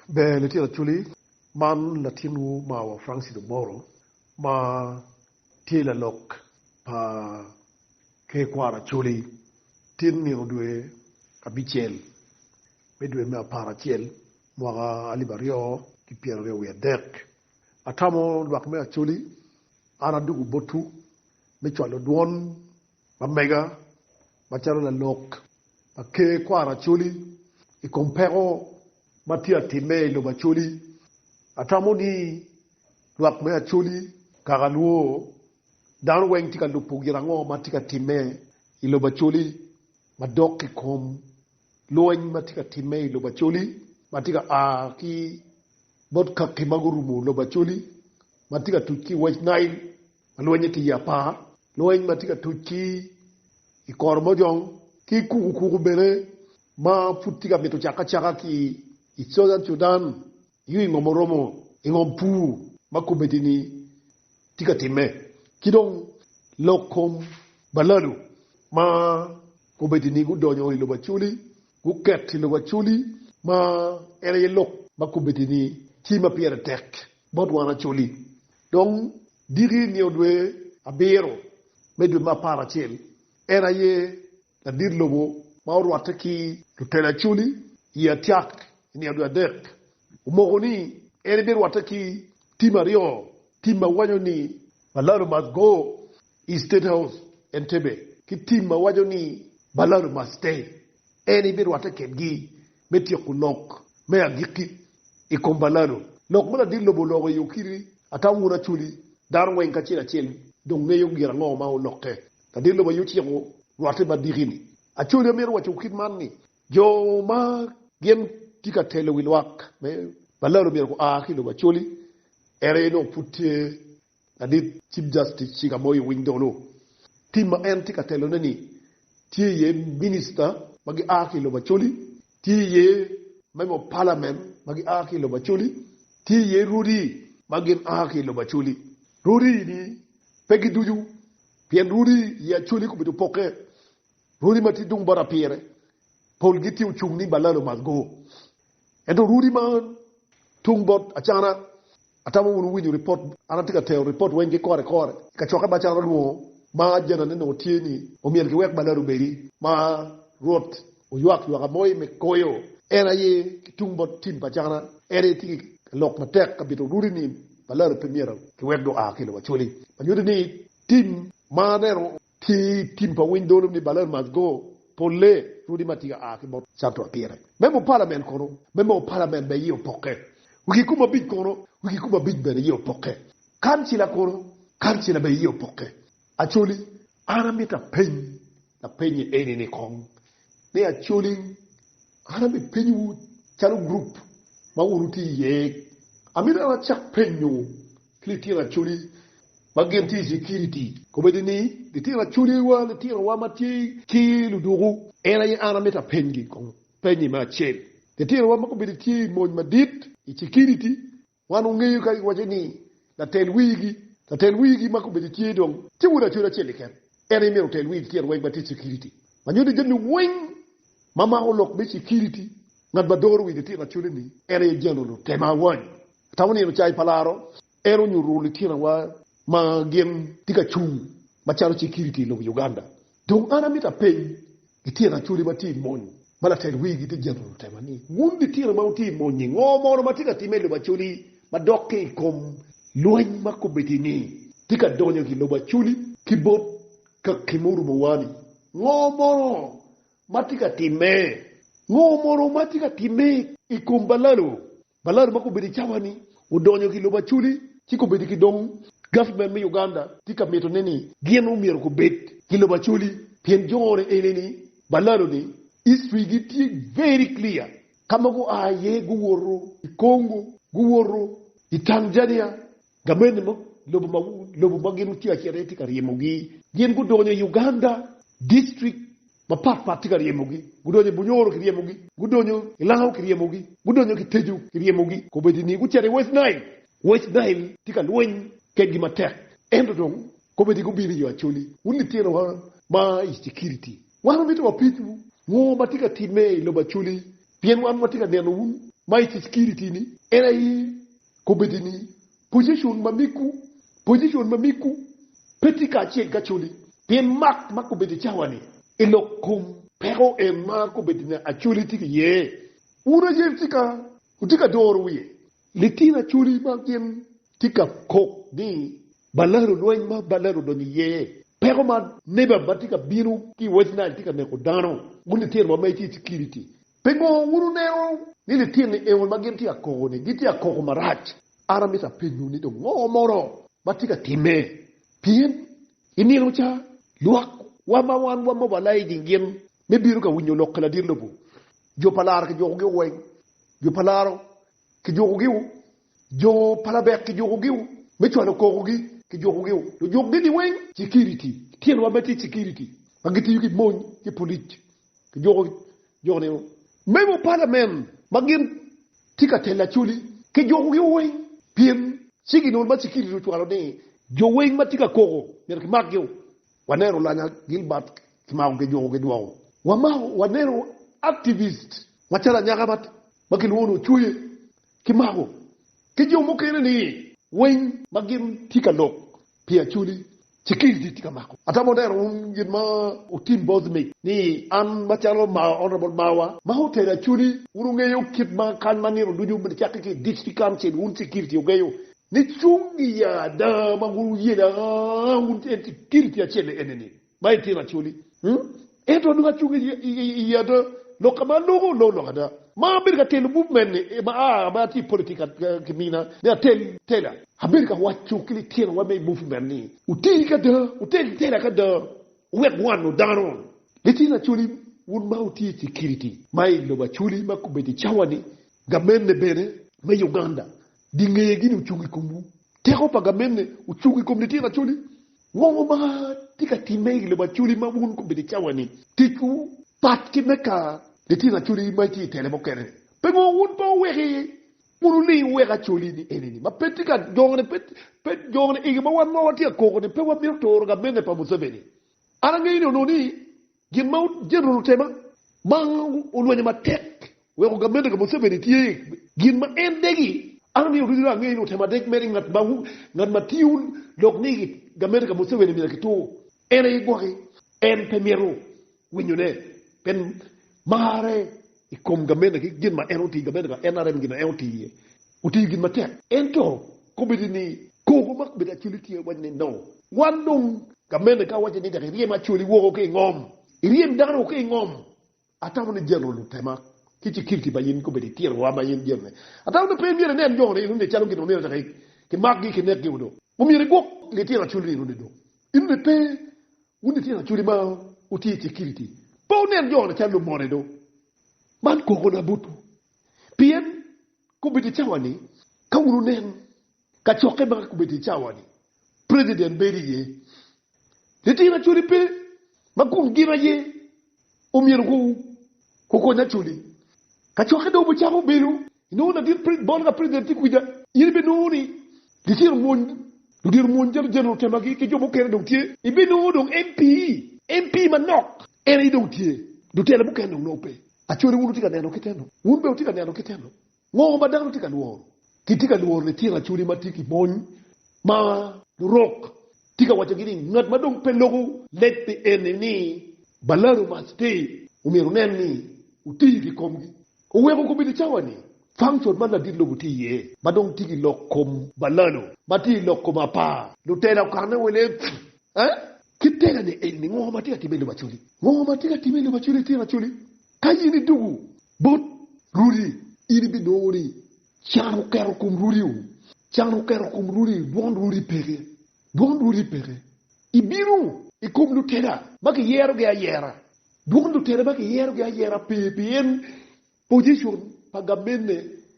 Ber litino Acholi, man latinwu mawa Francis Omoro ma tye lalok pa Ker Kwaro Acholi. Tin nino dwe abicel me dwe me apar acel mwaka alip aryo ki pyera aryo wiye adek, atamo lwak me Acholi, an adwogo botwu me cwalo dwon Lamega macalo lalok pa Ker kwaro Acholi i kom peko ma tye ka timme i lobo Acholi. Atamo ni lwak me Acholi, kaka nwo dano weng tye ka lubo gin ango ma tye ka timme i lobo Acholi madok ki kom lweny ma tye ka timme i lobo Acholi ma tye ka a ki bot kaki ma gurumo lobo Acholi ma tye ka tuc ki i West Nile. ma lwennye tye iye apar, lweny ma tye ka tuc ki i kor mojong, ki kukukuku bene ma pud tye ka mito cakke acaka ki i Southern Sudan, nyo i ngom oromo, i ngom pur ma komitini tye ka timme, ki dong lok kom balado ma komitini gudonyo i lobo Acholi guketo i lobo Acholi, ma en aye lok ma komitini tye ma pire tek bot wan Acholi. Dong diki i nio dwe abiro me dwe me apar acel, en aye ladit lobo ma orwatte ki lutelo acoli i Atiak i nio dwe adek. Omoko ni en birwatte ki tim aryo, tim ma waco ni Balado Must Go i State House, Entebbe, ki tim ma waco ni Balado Must Stay. En birwatte kedgi me tyeko lok me agikki i kom balado. Lok ma ladit lobo oloko i Okiri, ata wun Acholi, dano weng kacel acel dong ngeyo gin ango ma olokke. Ladit lobo aye ociko rwatte me adiki-ni. Acholi amito waco kit man ni, jo ma gin tye ka telo wi lwak me balado myero gua ki lobo Acholi, ento aye nongo pud tye Ladit Cip Jastic Chiga Moi Winy Dolo, tim ma en tye ka telone-ni tye iye minista ma gia ki i lobo Acholi, tye iye member of parliament ma gia ki i lobo Acholi, tye iye rwodi ma gin a ki i lobo Acholi. Rwodi-ni pe giducu pien rwodi i Acholi kobedo opokke. Rwodi ma tye tung bot apire polgi tye ocung ni Balalo must go. Ento Rudi man tung bot Acana, atamo wun wuwinyo ripot, an atye ka tero ripot weng ki kore kore i kacokke ma Acana olwongo ma janane nongo tye ni omyel ki wek balada obedi ma Rwot oywak ywaka moi me koyo. En aye ki tung bot tim pa Acana, en aye tye ka lok matek ka bito Rudi ni balada pe myero ki wek dong oa ki i lobo Acoli, ma nyuto ni tim ma aneno Ki i tim pa winy dolo ni Balor must go, pol lee, rwodi ma tika aa ki bot Santo Apire, me mo palamen kono, me mo palamen be iye opokke. Wi kikome abic kono, wi kikome abic bene iye opokke. Kancila kono, kancila be iye opokke. Acholi, an amito apeny lapenyi eni ni kong ni Acholi, an ami penyowu calo gurup ma wun wutye iye, amito an acak penyowu, ki litino acholi ma gin tye i cikiriti. Kombeddi ni litino acholiwa, litinowa ma tye ki luduku, en aye an amito apenygi kong penyi me acel. Litinowa ma kombeddi tye i mony madit i cikiriti, wan wangeyo ka giwaco ni latel wigi, latel wigi ma kombeddi tye dong tye wod acholi acel keken, en aye myero otel wi litino weng ma tye i cikiriti. Ma nyuto jami weng ma mako lok me cikiriti, ngat ma doro wi litino acholi-ni, en aye Jeneral Otema Awany, Atamo nino cai pa laro en onyuto litinawa ma gin tye ka cung macalo cikiriti i lobo Uganda. Dong an amito apeny lityen acholi ma tye i mony ma latel wigi tye jemo lutema ni, Wun litino ma wutye i mony-nyi, ngo mono ma tye ka timme i lobo acholi ma dok ki i kom lweny ma komiti-ni tye ka donyo ki i lobo acholi ki bot kaki ma orumowa-ni? Ngo mono ma tye ka timme? Ngo mono ma tye ka timme i kom balalo Baladu ma gubedo i cawa-ni odonyo ki lobo Acholi ci gubedo ki dong gaftmen me Uganda tye ka mitone ni gin omyero gubed ki lobo Acholi pien jone ene ni baladu ni history gi tye very clear ka ma gua iye guwoto i Congo, guwoto i Tanzania, Gamente me lobo ma gin gutye acel aye tye ka ryemogi. Gin gudonyo i Uganda, district mapat pat tye ka ryemogi. Gudonyo i Bunyoro kiryemogi, gudonyo i Lango kiryemogi, gudonyo ki Tejo kiryemogi. Kobedi ni gucito i West Nile, West Nile tye ka lweny kedgi matek. Ento dong kobedi gubino i yo Acholi. Wun litinowa ma i Security, wan wamito wapenyu ngo ma tye ka timme i lobo Acholi? Pien wan watye ka neno wun ma i Security ni en aye Kobedi ni, Pojicon ma miggu, pojicon ma miggu pe tye kacel ki Acholi, pien mak ma kobedi cawa-ni i lok kom peko en ma kobedi ni Acholi tye ki iye. Wun aye tika wutye ka doro wiye? Litino Acholi ma gin tye ka kok ni balalo lweny ma balalo odonyo iye, peko ma neba ma tye ka bino ki i West Nile tye ka neko dano, wun litino ma ma itye i cikiriti, Pingo wun wuneno ni litini eno ma gin tye ka koko-ni gitye ka koko marac? An amito apenyowu ni dong ngo mono ma tye ka timme? Pien i nino ca, lwak wa ma wan wa mobalai gingin me bino ka winyo lok ki ladir lobo. Jo pa laro kijuko giu weng, jo pa laro kijuko giu, jo pa labek kijuko giu, me cwalo koko gi kijuko giu, lujuk gi gi weng. Security, litino wa ma tye security ma gitiyo ki mony ki polic kijuko jo ni memo palamen ma gin tye ka telo Acholi kijukogi weng pien ci ginongo ma cikilili ocwalo ni jo weng ma tye ka koko myero kimakgio. Waneno Lanya Gilbert kimako kijuko kidwoko. Wamako waneno activist macalo anyaka ma kilwongo ni Ocoye kimako ki jo mukene ni winy ma gin tye ka lok pi Acholi, Security tye ka mako. Atamo neno wun gin ma otim both me ni an macalo Mawa Honourable Mawa ma otero Acholi, wun wungeyo kit ma kany ma nino ducu bene cakki ki i District Council wun Security wugeyo ni cung i ada ma wun wuye da, wun en Security acel eni ni. Ma itino acoli. Ento nongo acung i i ada, lok ka ma aloko loko lok ada. Ma abedo ka telo buk meni ma a ma atye i politik ki mina ni atel tela. Abedo ka waco ki litinowa me movement ni wuti ki ada, wutel tela ki ada wuwek wano dano. Litino acoli, wun ma wutye i security ma i lobo acoli ma obedo i cawa ni, gamente bene me Uganda di ngeye gini ocung i komwu. Teko pa gamente ocung i kom litino acoli. Ngo ma tye ka timme i lobo Acholi ma wun kobedo i cawa-ni? Ticwu pat ki me ka litino Acholi ma itye i tele mukene. Pingo wun pe wuweki wun wuling wuwek Acholi-ni eni-ni ma pe tye ka jone, pe jone igi ma wan ma watye ka koko-ni pe wamito turo gamente pa Museveni? An angeyo ni onongo ni Gin ma Jeneral Otema ma olwenyo matek weko gamente ka Museveni tye gin ma en degi. An aniang ducu dong angeyo ni Otema dek mere ngat ma tiyo lok ni gamente ka Museveni myero kitur en aye gwok-ki. En pe mito winyone pien marre I kom gamente ki gin ma en otiyo, gamente pa NRM, gin ma en otiyo iye, otiyo gin matek. Ento, kombeddi ni kor wa ma obedo Acholi tye waco ni, No. Wan dong. Gamente ka wacce ni tek iryem Acholi woko ki i ngom, iryem dano woko ki i ngom, atamo ni Jeneral Lutema ki cikiriti pa in kombeddi itiro wa ma in jami-ni. Atamo ni pe myero inen jo-ni enuni calo gin ma myero tek kimakgi, kinekgi-gu dong. Omyero igwok litino Acholi-ni enuni dong. Enuni pe Wun litino Acholi ma wutye i Cekiriti, pe wunen jo-ni calo lumone do? Man kogona botwu, pien kobedo i cawa-ni, ka wun wunen kacokke ma kobedo i cawa-ni, Prejident bedo iye, litino Acholi pe ma kun gin aye. Omyero gukonya culi. Ka cokke dong obicako bedo, inongo ladit pred, bot ka president tye kwica, in ibinongo ni gicito omwony, ludito omwony jalo general temagi ki jo mukene dong tye, ibinongo dong MP, MP manok en aye dong tye, lutela mukene dong nongo pe. Acode wun wutye ka neno kite-nu? Wun bene wutye ka neno kite-nu? Ngo ma dano tye ka lworo? Kitye ka lworo litino acholi ma tye ki mony ma lurok tye ka waccogi ni ngat ma dong pe loko leb pi en-ni ni balaro ma sti omyero onen ni oti ki komgi. Oweko kobbe licawa-ni, function man ladit lobo tye iye ma dong tye ki lok kom balalo ma tye i lok kom apar. Lutela okanne wa i leb eh? Ki tela-ni eni, ngo ma tye ka timme i lobo acholi? Ngo ma tye ka timme i lobo acholi, litino acholi? Ka in idwogo bot rudi, in ibinongo ni can oketo kom rudiu. Can oketo kom rudi dwon rudi peke. Dwon rudi peke. Ibino i kom lutela ma kiyerogi ayera, dwon lutela ma kiyerogi ayera pe pien pojicon pa gamenne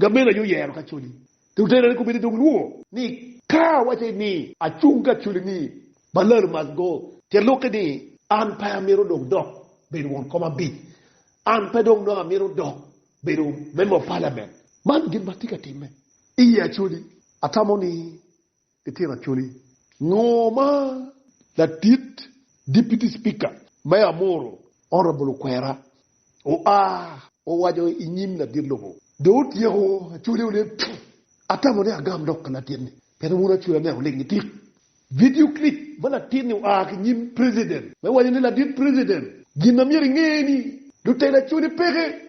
Gamen aye oyero kacoli te otera ni kubedi dong lwor ni ka awace ni acung kacoli ni Balal must go te luki ni an pe amito dong dok bedo won kom abic, an pe dong nongo amito dok bedo member of parliament. Man gin matye ka timme iye acoli. Atamo ni Itito acholi ngo ma latit Deputy Speaker me Amuru, Honourable Okwera oa owaco i nyim ladit lobo? Dong otyeko acholi one tuu. Atamo ni agam lok pa latit ni pien wun acholi aneno ling itik. Video clip ma latit ni oa ki nyim President me waco ni, Ladit President, gin ma myero inge ni lutela acholi peke.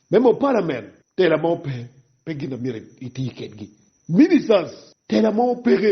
Member of Parliament, tela mo pe, pe gin a myero iti kedgi. Ministers, tela mo peke,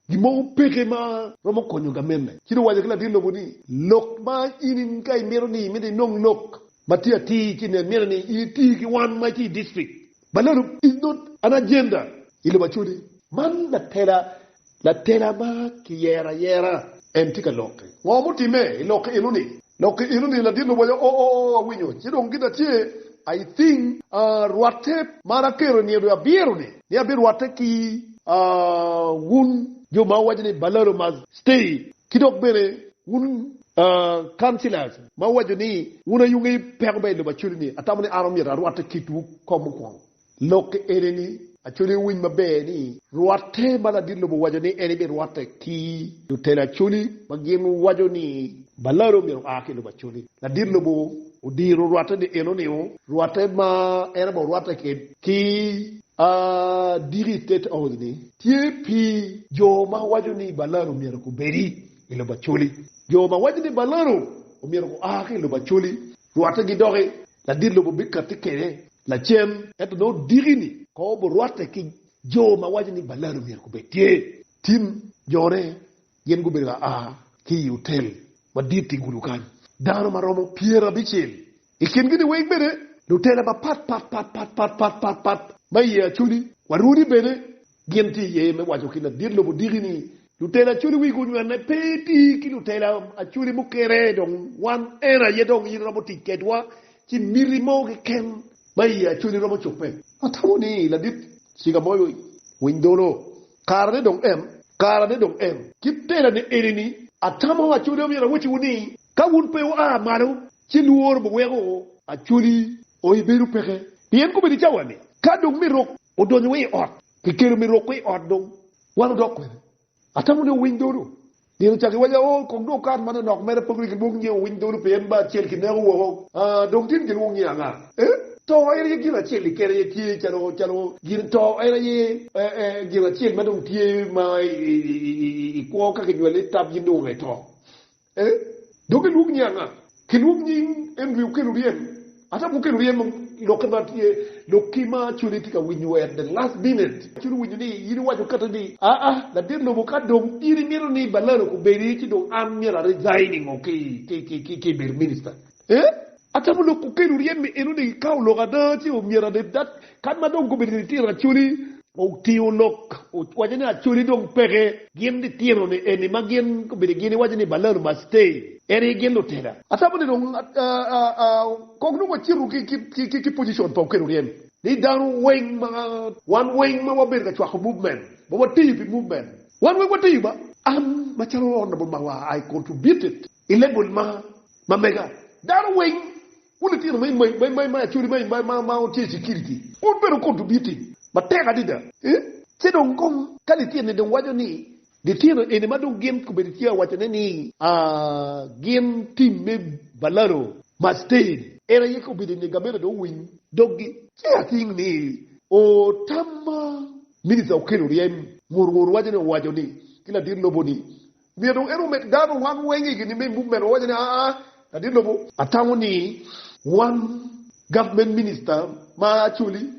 gin mo peke ma romo konyo gamenne. Ci dong waco ki latin lobo ni, Lok ma in ka imito ni imito inong lok ma tye atir ci nen myero ni in iti ki wan ma itye i district ma leru is not an agenda i lobo acodi. Man latela Latela ma kiyero ayera en tye ka lokke. Ngo mutimme i lokke enoni? Lokke enoni ladit luboco o o o awinyo ci dong gin atye I thing ahh rwatte mar aketo nino dong abiro ni ni abi rwatte ki ahh wun jo ma wuwaco ni balado must stay ki dok bene wun ahh councilors ma wuwaco ni wun ayunge peko bene I lobo acwali ni atamo ni an omyero arwatte kitwu kong mukwongo. Lokke ene ni, Acholi owiny maber ni rwatte ma ladit lobo owaco ni en ebirwatte ki lutela Acholi ma gin waco ni balado omyero oa ki i lobo Acholi. Ladit lobo odiro rwatte ni en oningo rwatte ma en abongo rwatte ked ki a diki i State House ni tye pi jo ma waco ni balado omyero gubedi i lobo Acholi. Jo ma waco ni balado omyero gua ki i lobo Acholi. Rwatte gi doki, ladit lobo bikatti kwede lacen. Ento nongo diki-ni kong oburwatte ki jo ma waco ni balado myero gubed tye. Tim jone gin gubedo ka a ki i otel madit i gudo kany, dano ma romo pyerabicel i kin-gi-ni weng bene lutela mapatpatpatpatpatpat ma iye Acholi, Waruni bene Gin tye iye me waco ki ladit lobo odiki ni, Lutela acholi wigi onywene pe iti ki lutela acholi mukene, dong wan en aye dong in iromo tic kedwa ci miti mo keken ma i acholi romo cobbe. Atamo ni ladit ciga moyo winy dolo. Kara ne dong en. Kara ne dong en. Kit tela ne eni ni, atamo acholi omyero awociwu ni, ka wun pe wua malo ci lworo biweko acholi o i bedo peke. Pien kobedo i cawa ni, ka dong me rok odonyo wa i ot, kikelo me roko i ot dong wan odok kwede. Atamo ni owiny dhodo. Gin ocako giwaco ni, Oo, kong dong okato ma nonok mere pe wek ilwong nyinge owiny dhodo pien en ba acel kineko woko. Aa, dong tin gilwong nyinge anga? Ee, to en aye gin acel ni kene aye tye calo, calo gin, to en aye gin acel ma dong tye ma i kwo ka kinywale i tab-gi nongo aye to. Ee, dok elwok nying anga? Kilwok nying en dwe okelo ryem ata pe okelo ryem lokke ma tye lok ki ma codi tye ka winyo wer the last minute codi winyo ni in iwaco kati ni aa ladit lobo ka dong in imito ni balalo obedi ci dong an myero a resigning o ki ki ki ki bedo minister Ee, atamo lok kukelu ryem ni enoni gikawo lok ada ci omyero aned dat kan ma dong gubedo litino Acholi. Otingo lok owaco ni Acholi dong peke gin litino ni eni ma gin gubedo gin iwaco ni Balalo must stay en aye gin lutela. Atamo ni dong kong nongo acito ki position pa okelu ryem ni dano weng ma wan weng ma wabedo ka cwako movement ma watiyo pi movement wan weng watiyo ba an macalo honorable Mawa I contributed I lebul ma ma mega, dano weng ku litino ma i ma i acholi ma i ma ma ma tye i security pud bene okuto biti matek adida. Ci dong kong ka lityen-ni dong waco ni litino eni ma dong gin obedo tye awacone ni gin tim me balado ma state en aye ka obedo ni gamente dong owiny doggi ci I think ni o tam ma minister okelo ryem ngur ngur waco ni owaco ni ki ladit lobo ni Myero dong en omed dano wan weng i gin-ni me muk meno, wawaco ni, Aa, ladit lobo. Atango ni wan government minister ma Acholi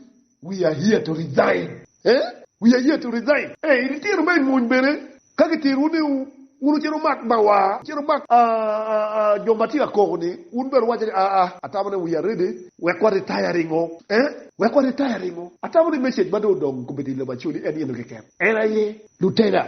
we are here to resign eh, we are here to resign. Eh, in ityer ma imony bene ka gityerowu ni wun wucit wumak bawa, wucit wumak jo ma tye ka koko ni, wun bene wuwaco ni, Aa, atamo ni we are ready wek wa retire ringo eh, wek wa retire ringo. Atamo ni message ma dong odong kobedo i lobo Acholi en eno keken, en aye lutela.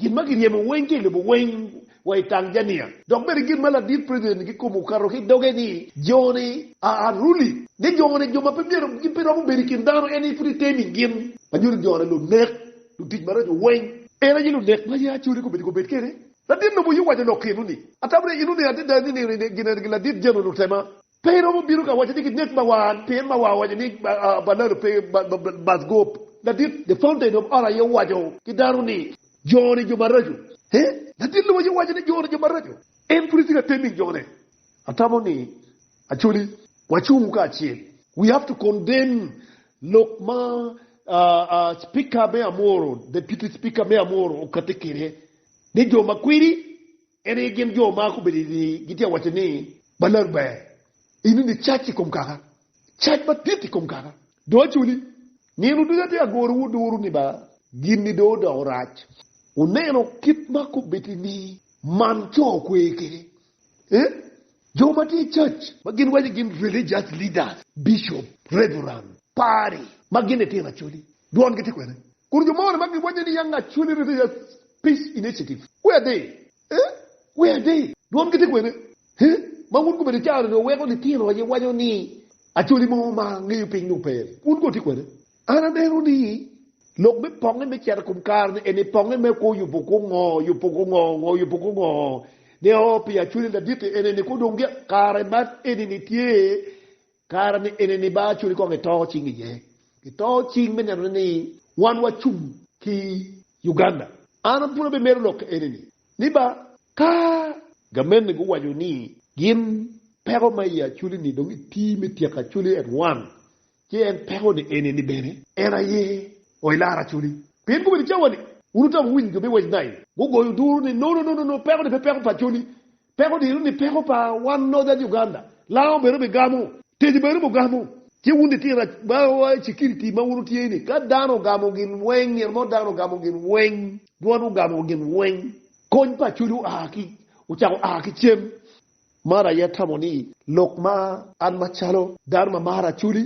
Gin ma giryemo weng tye i lobo weng wa i Tanzania. Dok bene gin ma ladit president kikobo okato ki i doge ni joni are unruly, ni joni jo ma pe myero gin pe romo bedo i kin dano en aye pud itemo i gin ma nyuto joni lunek, lutic maraco weng. En aye lunek ma ye acode kome dong obed kene. Ladit lobo aye owaco lok kenu ni, Atamre inuni adada ni nino gin eni gin ladit jano lutema. Pe iromo bino ka waco ni ginek ma wan, pien ma wa waco ni balalo pe bath gop. Ladit The Fountain of Ora aye owaco ki dano ni, Joni jo maraco. He? Ladit lubo aye owaco ni joni jo maraco. En pud etye ka tem i jone. Atamo ni, Acholi, wacung kacel. We have to condemn lok ma Speaker me Amoro, Deputy Speaker me Amoro okate kwede ni jo ma kwidi. En aye gin jo ma gubedo i rii gitye ka waco ni, Balar ber, in ini cac i kom kaka, cac madit i kom kaka, dong acoli. Nino ducu atye ka gorowu duru ni ba, gin-ni dong odoko rac. Wuneno kit ma kubeddi-ni man co kwe kwede? Ee, jo ma tye cac, ma gin waco gin religious leaders, bishop, reverend, padri, ma gin litino acoli, dwongi tye kwene. Kun jo moni ma gibwanye ni Young Acholi Rivers Peace Initiative, Wee ade! Ee, wee ade! Dwongi tye kwene? He, ma wun komedo icaro nyo weko litino aye wanyo ni Acholi mo ma ngeyo piny dong pe ni, wun kono tye kwene? An aneno ni lok me ponge me cito i kom kare ni eni ponge me kwo yubo kwo ngo, yubo kwo ngo, ngo yubo kwo ngo ne oo pi Acholi laditi eni ni kwo dong kare man eni ni tye Kara ni enini ba acoli kong ito cing iye. Ito cing me nenone ni wan wacung ki Uganda. An pud abimero lok ka enini. Ni ba ka gamente guwaco ni gin peko ma i acoli ni dong iti me tyeko acoli at one, ci en peko ni enini bene en aye o ilar acoli. Pien gubedo cawa ni, wun utamo winy jo me West Nile gugoyo duru ni, No, no, no, no, no, peko ni pe peko pa acoli. Peko odiro ni peko pa wan noja Uganda lango bene bi gamo, tejo bene mu gamo. Ci wun litino ma wa i cekiriti ma wun wutye ni ka dano ogamo gin weng nino mo dano ogamo gin weng dwon ogamo gin weng kony pa coco oa ki ocako oa ki cem man aye atamo ni lok ma an ma calo dano ma maro Acholi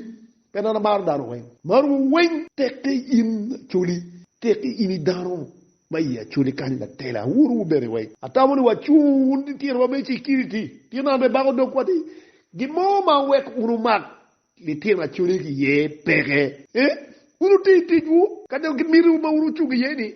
pien an amaro dano weng maromo weng tekke in Acholi tekke in idano ma i Acoli kany ma tela awoto wu bene wek. Atamo ni wacu wun titino ma me cikiriti, pien an bene bako dogwa ni gin mo ma weko wun wumak litino Acoli ki iye peke. Ee, wun wuti i ticwu ka dok ki miti wu ma wun wucung iye ni,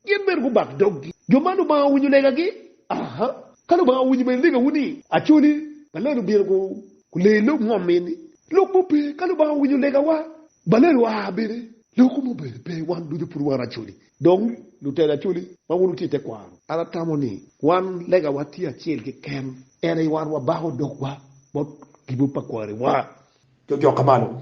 gin bene gubak doggi. Jo man Lubanga owinyo legagi? Aa! Ka Lubanga owinyo bene legawu ni Acoli pa lelo obino gu lee i lok ngom mi ni, lok mo pe, ka Lubanga owinyo legawa, balelo aa bene, lok mo bene pe, wan ducu pud wan Acoli. Dong, lutela Acholi ma wun wutye i tekwaro, an atamo ni wan legawa tye acel keken, en aye wan wabako dogwa bot gibu pa kwariwa. Cocokke malo.